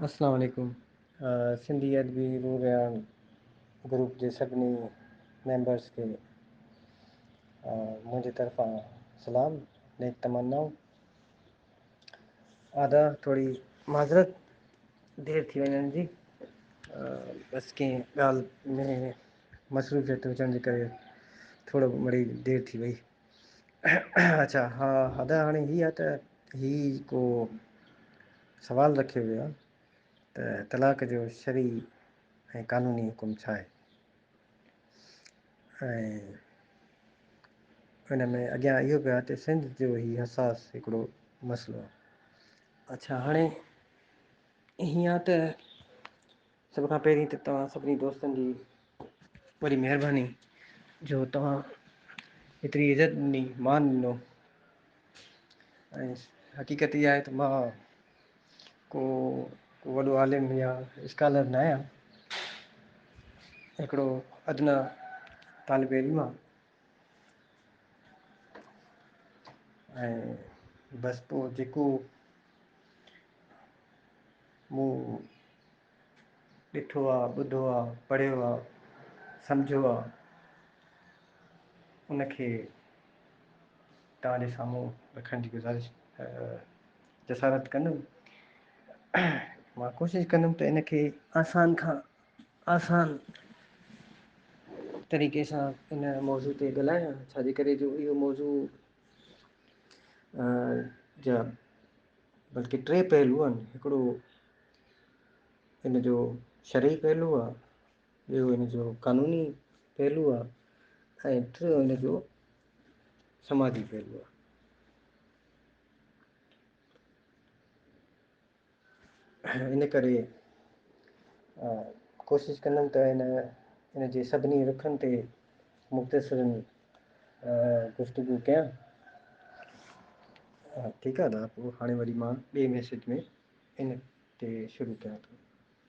اسلام عليڪم سنڌي ادبي روحيان گروپ جي سڀني ميمبرس کي منهنجي طرفان سلام نيڪ تمنائون ادا ٿوري معذرت دير ٿي وڃڻ جي بس ڪنهن ڳالهه ۾ مصروفيت هجڻ جي ڪري ٿورو مڙي دير ٿي وئي اچا ها ادا هاڻي هي آ ته هي ڪو سوال رکيو ويو آ ته طلاق جو شرعي ۽ قانوني حڪم ڇا آهي؟ ۽ ان ۾ اڳيان اهو به آ ته سنڌ جو هي حساس هڪڙو مسئلو آ. اچا هاڻي هيئن آ ته سڀ کان پهرين ته توهان سڀني دوستن جي وڏي مهرباني جو توهان هيتري عزت ڏني مان ڏنو ۽ حقيقت اها آهي ته مان ڪو ڪو وڏو عالم يا اسڪالر نه آهيان هڪڙو ادنيٰ طالب علم آهيان ۽ بس پوء جيڪو مون ڏٺو آ، ٻڌو آ، پڙهيو آ، سمجهيو آ، ان کي توهان جي سامهون رکڻ جي گذارش جسارت ڪندم. مان ڪوشش ڪندم ته ان کي آسان کان آسان طريقي سان ان موضوع تي ڳالهايان ڇاجي ڪري جو اهو موضوع ا جا بلڪ ٽي پهلو آهن هڪڙو ان جو شرعي پهلو آ ٻيو هن جو قانوني پهلو آ ۽ ٽيو هن جو سماجي پهلو آ ان ڪري ڪوشش ڪندم ته هن ان جي سڀني رخن تي مختصراً گفتگو ڪيان. ٺيڪ آهي نا پوء هاڻي وري مان ٻئي ميسيج ۾ ان تي شروع ڪيان ٿو.